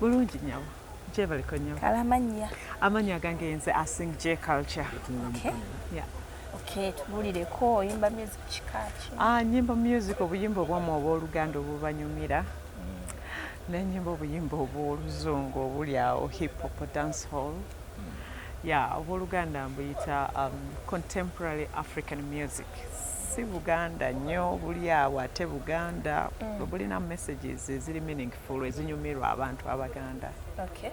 bulungi nyabo gyebaliko nyo kale amannya amannya agange yenze asing j culture okay. yeah. Okay, tubulireko oyimba music kikaki ah, nyimba music obuyimba obwamu obwoluganda obubanyumira mm. nenyimba obuyimba obwoluzungu obuli awo hip hop dance hall mm. ya obwoluganda mbuyita um, contemporary african music si buganda nnyo buli awo ate buganda mm. bulina messages eziri meaningful full ezinyumirwa abantu abaganda okay.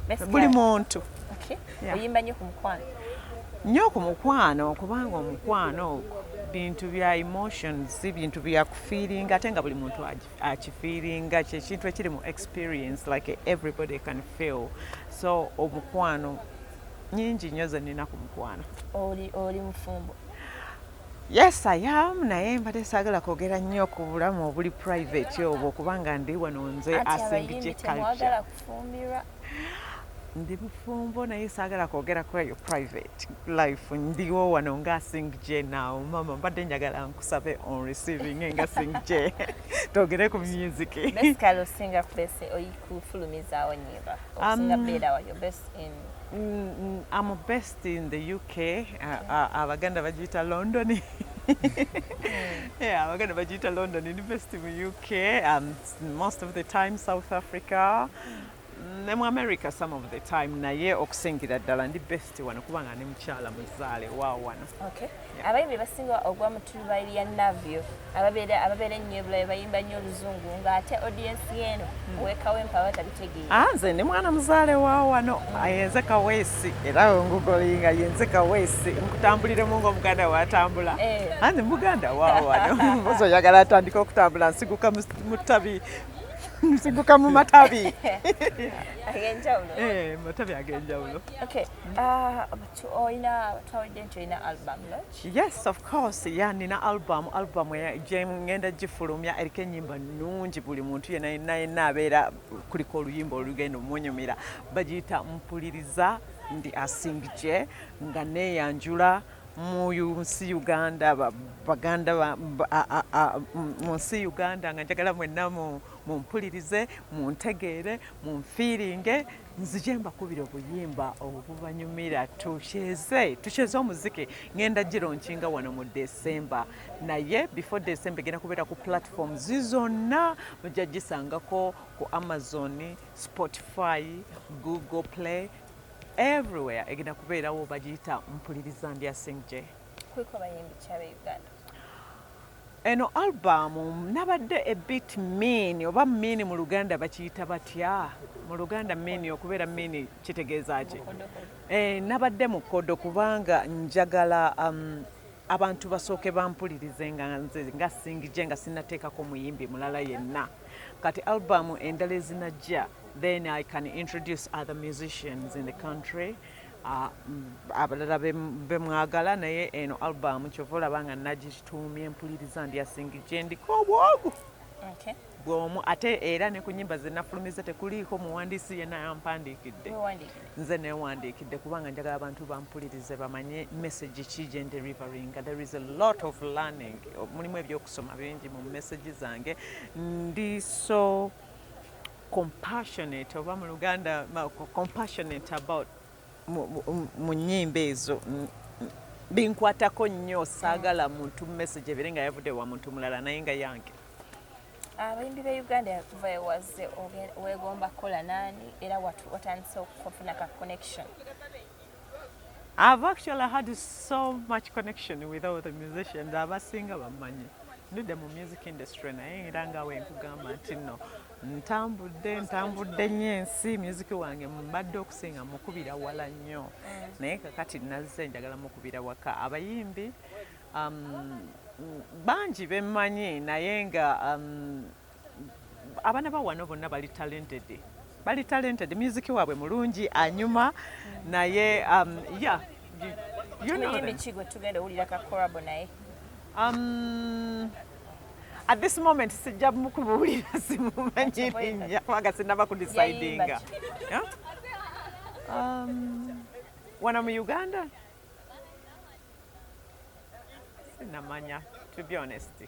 yeah. buli muntu okay. yeah. oyimba nyo ku mukwano nyo ku mukwano kubanga omukwano ogwo bintu bya emotions bintu bya kufiiringa ate nga buli muntu akifiiringa kyekintu ekiri mu experience like everybody can feel so omukwano nyingi nyo zenina ku mukwano oli, oli mufumbo Yes, I am naye mbadde saagala kwogera nnyo ku bulamu obuli private obwo kubanga ndi wano nze asengije culture. Ndi mufumbo naye saagala kwogera ku eyo private life. Ndiwo wano nga asengije now mama mbadde njagala nkusabe on receiving nga asengije twogere ku music. Basically osinga kwese oyikufulumizaawo nyimba osinga um, beera wayo best in Mm, mm, I'm a best in the UK uh, uh, abaganda bagiyita London yeah, abaganda bagiyita London University mu UK um, most of the time South Africa ne mu America some of the time naye okusingira ddala ndi best wano kubanga ndi mukyala muzaale wa wano okay. abayimbi basinga ogwa mu tulubayi lya navio ababeera ababeera ennyo ebulayo bayimba nnyo oluzungu ng'ate odiensi eno hmm. owekawempa aba tabitegeera ah, nze ndi mwana muzaale wa wano yenze ah, kaweesi era ngugolinga yenze kaweesi nkutambuliremu ngaomuganda watambula eh. anze ah, muganda wa wano mbozi oyagala atandika okutambula nsiguka mu ttabi nsiguka mu matabi ag'enjawulo eh, matabi ag'enjawulo yes of course ya nina album album gyengenda gifulumya eriko enyimba nungi buli muntu yena yena yena abeera kuliko oluyimba olugenda omunyumira bagiyita mpuliriza ndi asingije nga neyanjula mu nsi uganda baganda mu nsi uganda nga njagala mwenna mumpulirize muntegeere munfiiringe nzije mbakubira obuyimba obubanyumira tukyeze tukyeze omuziki ngenda giro nkinga wano mu desemba naye before desemba egenda kubeera ku platform zizonna mujja gisangako ku amazon spotify google play everywhere egenda kubeerawo bagiyita mpuliriza ndya singje kuliko bayimbi kyaba uganda Eno album nabadde a bit mean oba mean mu luganda bakiyita batya mu luganda mean okubeera mean kitegeeza ki eh, nabadde mukodo kubanga njagala um, abantu basooke bampulirize nga nze nga singije nga sinateekako muyimbi mulala yenna kati album endala ezinajja then i can introduce other musicians in the country Ah, abalala bemwagala naye eno album kyova olaba nga nagituumye mpuliriza ndyasingi gyendiko obwogu bwomu ate era ne ku nyimba zenafulumiza tekuliiko muwandiisi yena yampandiikidde nze newandiikidde kubanga njagala abantu bampulirize bamanye message ki gyenderivaringa there is a lot of learning mulimu ebyokusoma bingi mu message zange ndi so compassionate oba mu luganda compassionate about mu nyimba ezo binkwatako nnyo saagala muntu message ebere nga yavudde wa muntu mulala naye nga yange abayimbi be uganda kuva ewaze wegomba kukola nani era watandise okufuna ka connection I've actually had so much connection with all the musicians abasinga bammanyi ndudde mu music industry naye era nga wenkugamba nti no ntambudde ntambudde nnyo ensi myuziki wange mbadde okusinga mukubira wala nnyo naye kakati nazze njagala mukubira waka abayimbi um, bangi bemmanyi naye nga um, abaana ba wano bonna bali talented bali talented myuziki waabwe mulungi anyuma naye um, ya yeah, you know at this moment sijja mukubuulira simumanyi linnya kubanga sinaba ku decidinga um, wano mu uganda sinamanya to be honest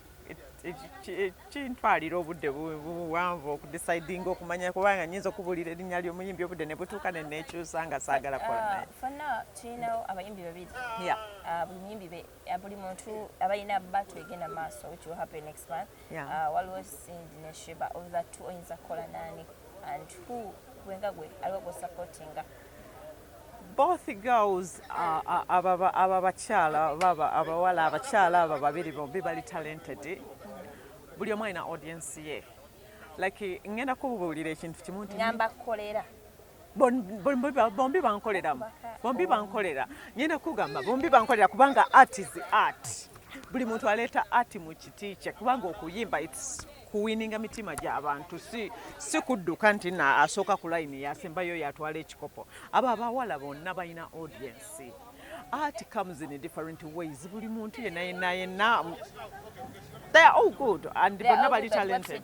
kintwalira obudde buwanvu okudecidinga okumanya kubanga nyinza okubuulira erinnya ly'omuyimbi obudde ne butuuka ne neekyusa nga saagala kola naye uh, fonna tulinawo abayimbi babiri uh, buli muyimbi ya buli muntu abalina battle egenda maaso which will happen next month yeah. uh, waliwo cindy ne sheba of the two oyinza kukola nani and who gwenga gwe aliwo gwosupportinga both girls uh, uh, aba ababakyala baba abawala abakyala aba babiri bombi bali talented buli omu alina audience ye like ngenda kububuulira ekintu kimu nti ngamba kukolera bombi bankoleramu bombi bankolera nyenda kugamba bombi bankolera kubanga art is art buli muntu aleeta art mu kiti kye kubanga okuyimba its kuwininga mitima gy'abantu si si kudduka nti na asooka ku layini yasembayo yatwala ekikopo abo abawala bonna balina audiensi art comes in different ways buli muntu yenna yenna yenna they are all good and bonna bali talented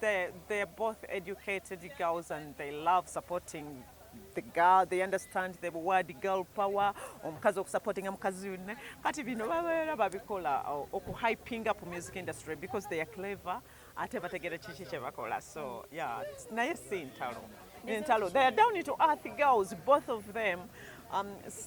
They're, they're both educated girls and they love supporting the girl they understand the word girl power omukazi okusupportinga mukazi yunne kati bino babeera babikola uh, okuhyping up music industry because they are clever ate bategera kiki kyebakola so yeah naye si ntalo ntalo they are down to earth girls both of them um,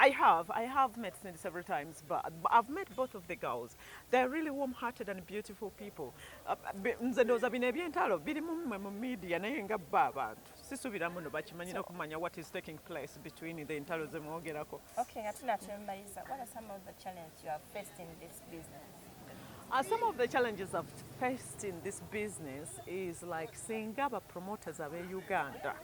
I have, I have met Cindy several times, but I've met both of the girls. They're really warm-hearted and beautiful people. Uh, nze ndowooza bino ebyentalo biri mu mmwe mu media naye nga bba abantu sisubira muno bakimanyi nokumanya what is taking place between the entalo zemwogerako. Okay, nga tunatembayiza, what are some of the challenges you have faced in this business? Uh, some of the challenges I've faced in this business is like singa ba promoters abe Uganda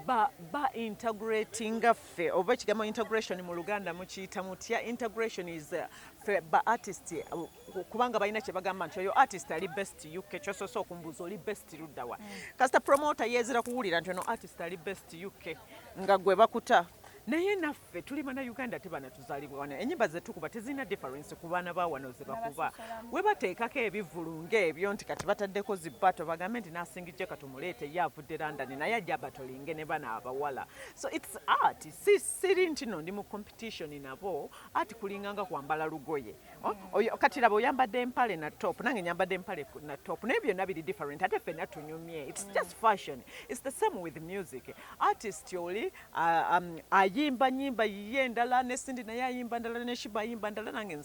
ba ba integrating ffe oba ekigambo integration mu Luganda mukiyita mutya integration is uh, fe ba artist uh, kubanga balina kye bagamba nti oyo artist ali best UK kyosoose okumbuuza oli best luddawa mm. kasita promoter yeezira kuwulira nti ono artist ali best UK nga gwe bakuta naye naffe ffe tuli bana uganda ate bana tuzalibwa wano enyimba zetukuba tezirina difference ku baana ba wano zebakuba webateekako ebivulu ngaebyo nti kati bataddeko zibato bagambe nti nasingijja kati omuleete ye avudde london naye ajja batolinge ne bana abawala so its art si siri ntino ndi mu competition nabo art kulinganga kwambala lugoye oh, mm. kati laba oyambadde empale na top nange nyambadde empale na top naye byonna biri different ate fena tunyumye its mm. just fashion its the same with music artist oli Ah, um, ayimba nyimba yiye ndala ne Cindy naye ayimba ndala ne Shiba ayimba ndala nange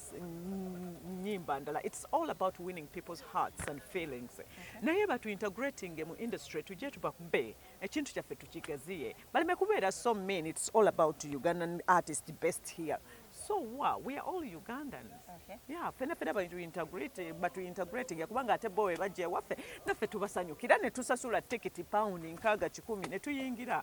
nyimba ndala it's all about winning people's hearts and feelings okay. naye batu integrating mu industry tujje tubakube ekintu kyaffe tukigaziye baleme kubeera so mean it's all about Ugandan artist best here so wa we are all Ugandans okay. yeah fena fena batu integrate batu integrating kubanga ate bowe bajje waffe naffe tubasanyukira ne tusasula ticket pound nkaga kikumi ne tuyingira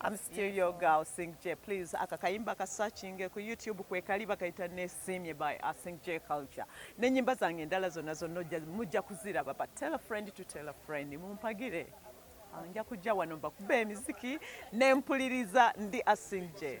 I'm still your girl Sing J please aka kayimba ka searching ku YouTube kwe kali bakayita ne simye by uh, Sing J culture ne nyimba zange ndala zonna zonna mujja kuziraba but tell a friend to tell a friend mumpagire ah, nja kujja wano mbakube emiziki nempuliriza ndi asing J